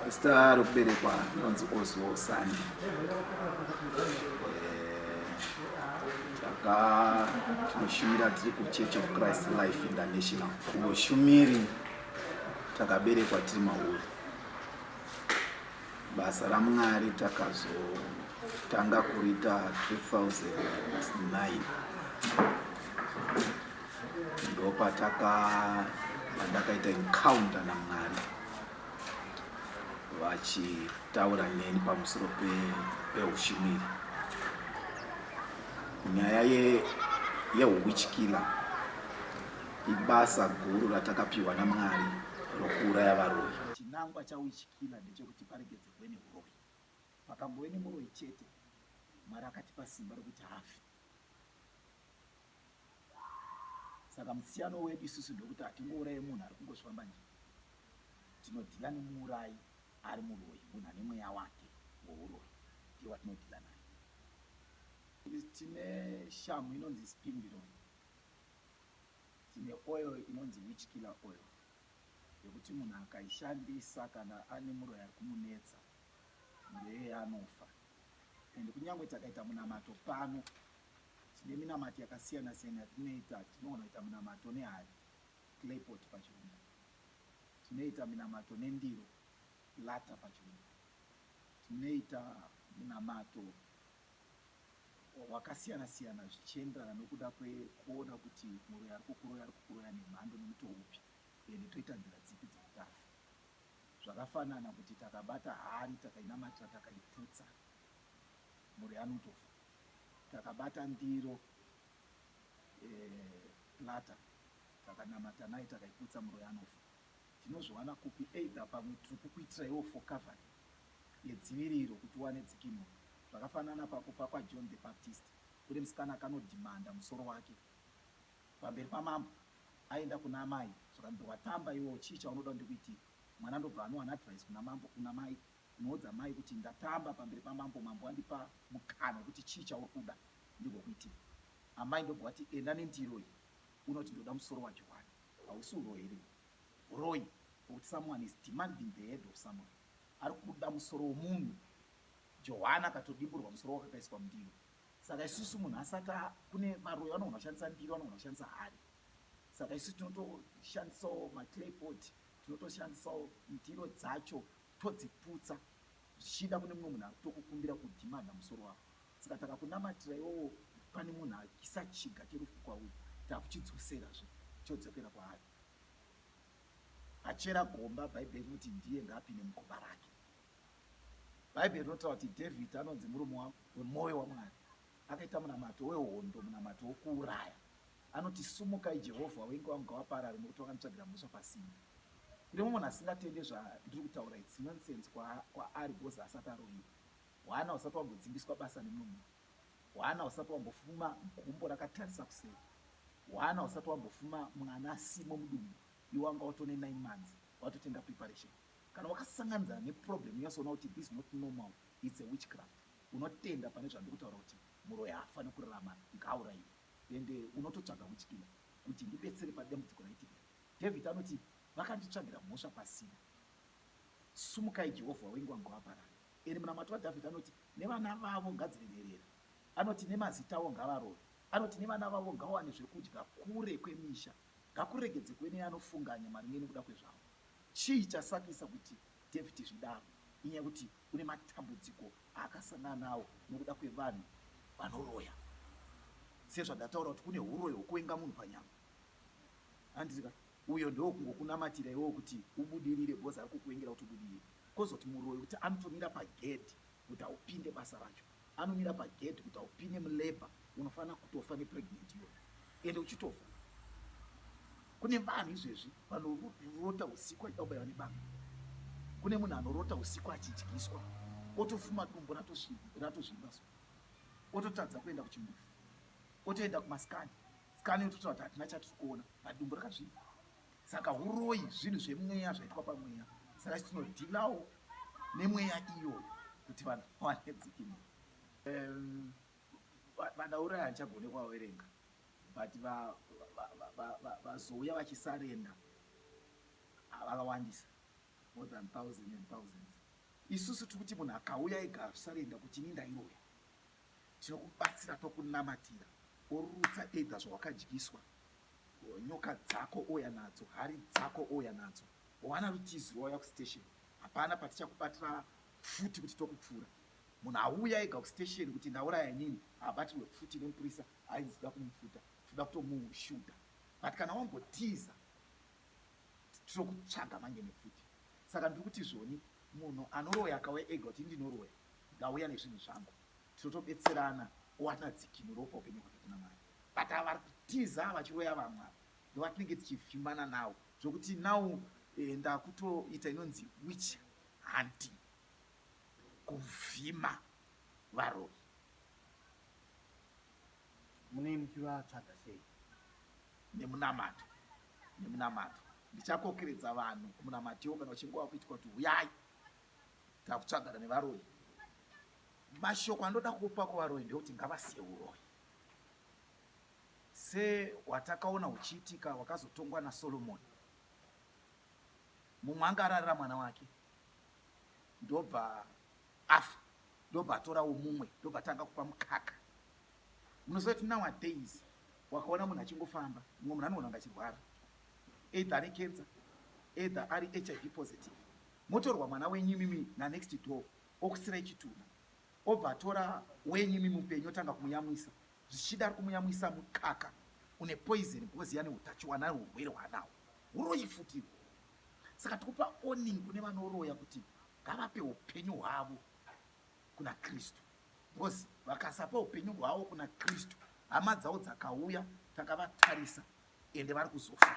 Zita rokuberekwa ndinonzi Oswald Sandi. Taka tinoshumira tiri kuChurch of Christ Life International. Ushumiri takaberekwa tiri mauri. Basa raMwari takazotanga kurita 2009. Ndopataka pandakaita encounter naMwari. vachitaura neni pamusoro peushumiri nyaya yeuwichkiller ibasa guru ratakapiwa namwari rokuuraya varoyi chinangwa chauwichkiller ndechekuti paregedzerwe neuroyi pakambove nemuroyi chete mwari akatipa simba rokuti hafi Saka musiyano wedu isusu ndokuti hatingouraye munhu ari kungosvamba nje. Tinodhila nemuurayi ari muroyi, munhu ane mweya wake wouroyi ndiye watinodhila naye. Tine shamhu inonzi spindironi, tine oil inonzi witch killer oil yekuti munhu akaishandisa kana ane muroyi ari kumunetsa muroyi anofa. And kunyange takaita munamato pano Tine minamato yakasiyana siyana yatinoita. Tinogona kuita munamato nehari, clay pot pachirungu. Tinoita minamato nendiro, platter pachirungu. Tinoita munamato wakasiyana siyana zvichienderana nokuda kwekuona kuti muroyi ari kukuroya ari kukuroya nemhando nemutoo upi ende toita nzira dzipi dzeutano zvakafanana kuti takabata hari takainamatira takaiputsa muroyi anotofa Takabata ndiro ye platter takanamata nayo takaiputsa muroyi anofa. Tinozviwana kupi either pamwe tiri kukuitiraiwo for covering yedziviriro kuti uwane dzikinuro. Zvakafanana pakufa kwaJohn the Baptist kune musikana akanodhimanda musoro wake pamberi pamambo aenda kuna amai zvikanzi watamba iwewo chii chaunoda kuti ndikuitire. Mwana ndobva anowana advice kuna mambo, kuna mai Unoudza mai kuti ndatamba pamberi pamambo mambo andipa mukana wekuti chii chauri kuda ndigokuitira. Amai ndobva wati enda nendiro iyi unoti ndoda musoro waJohwani. Hausi uroyi here uhu? Huroyi hwekuti someone is demanding the head of someone. Ari kuda musoro wemunhu. Johwani akatodimburwa musoro wake akaiswa mundiro. Saka isusu munhu asati kune varoyi vanogona kushandisa ndiro vanogona kushandisa hari. Saka isusu tinotoshandisawo maclaypot tinotoshandisawo ndiro dzacho todziputsa zvichida kune mumwe munhu tokukumbira kudhimanda musoro wako saka takakunamatira iwowo pane munhu akisa chiga cherufu kwauri takuchidzoserazve chodzokera kwaari achera gomba bhaibheri rinoti ndiye ngaapinde mugomba rake bhaibheri rinotaura kuti david anonzi murume wemwoyo wamwari Akaita munamato wehondo, munamato wokuuraya. Anoti, Sumukai, Jehovha, wenga wangu ngawaparare, nokuti wakanditsvagira mhosva pasina. Kune mumwe munhu asingatende zvandiri kutaura, its nonsense kwa, kwaari because asati aroyiwa. Hwana husati wambodzingiswa basa nemumwe munhu. Hwana husati wambofuma gumbo rakatarisa kuseri. Hwana husati wambofuma mwana asimo mudumbu. Iwe wanga watone 9 months, watotenga preparation. Kana wakasanganidzana neproblem, unyasoona kuti this not normal, its a witchcraft. unotenda pane zvandiri kutaura kuti muroyi haafani kurarama ngaauraiwe and unototsvaga witchkiller kuti ndibetsere padambudziko raitika iri david anoti vakanditsvagira mhosva pasina sumukai jehovha wengwa ngawaparara ende munamato wadavid anoti nevana vavo ngadzive nherera anoti nemazita avo ngavarove anoti nevana vavo ngawane zvekudya kure kwemisha ngakuregedze kuve neanofunganya maringe nekuda kwezvavo chii chasakisa kuti david zvidaro inyaya kuti kune matambudziko aakasangana nawo nokuda kwevanhu vanoroya sezvandataura kuti kune uroyi hwokuvenga munhu panyama handizika uyo ndo kungokunamatira iwewo kuti ubudirire bhozi ari kukuvengera kuti ubudirire kozoti muroyi kuti anotomira pagedhi kuti haupinde basa racho anomira pagedhi kuti haupinde mulabor unofanira kutofa nepregnant iyoyo ende uchitofa kune vanhu izvezvi vanorota usiku achida kubaiwa nebanga kune munhu anorota usiku achidyiswa otofuma dumbo ratozvimba so ototadza kuenda kuchimufi otoenda kumaskani skani ototaura kuti hatina chatiri kuona but dumbo rakazvimba saka uroyi zvinhu zvemweya zvaitwa pamweya saka tinodhilawo nemweya iyo kuti vanhu vawane dzikinuro um, vadaura hachagone kwaverenga but vazouya vachisarenda vakawandisa more than thousand and thousands isusu tiri kuti munhu akauya ega azvisarenda kuti ini ndairoya Tinokubatsira tokunamatira. Orutsa either zvawakadyiswa, nyoka dzako ouya nadzo, hari dzako ouya nadzo. Wana rutizi rwauya kustation. Hapana patichakubatira futi kuti tokupfura. Munhu auya ega kustation kuti ndauraya inini haabatirwe futi nemupurisa ainzi da kumupfuta, toda kutomushudha. But kana wambotiza Tinokutsvaga manje nepfuti. Saka ndiri kuti zvoni munhu anoroya akauya ega kuti ndinoroya ndauya nezvinhu zvangu tinotobetserana owana dzikinuro pa upenyu hwake kuna mwari but ava vari kutiza vachiroya vamwe ava ndovatinenge tichivhimbana nawo zvokuti now eh, ndakutoita inonzi witch hunting kuvhima varoyi munei muchivatsvaga sei nemunamato nemunamato ndichakokeredza vanhu kumunamatiwo kana uchinge wakuitwa kuti huyai takutsvagana nevaroyi mashoko andoda kupa kuvaroyi ndekuti ngavasiye uroyi se watakaona uchiitika wakazotongwa nasolomoni mumwe anga ararira mwana wake ndobva afa ndobva atorawo mumwe ndobva tanga kupa mukaka Munoziva kuti nowadays wakaona munhu achingofamba mumwe munhu anoona kunge achirwara either ane cancer either ari hiv positive motorwa mwana wenyu imimi nanext door okusirai chitunha obva atora wenyu imimi mupenyu otanga kumuyamwisa zvichida ari kumuyamwisa mukaka une poison because yane utachiwana urwere hwaanawo uroyi futi saka tikupa oning kune vanoroya kuti ngavape upenyu hwavo kuna kristu because vakasapa upenyu hwavo kuna kristu hama dzavo dzakauya takavatarisa ende vari kuzofa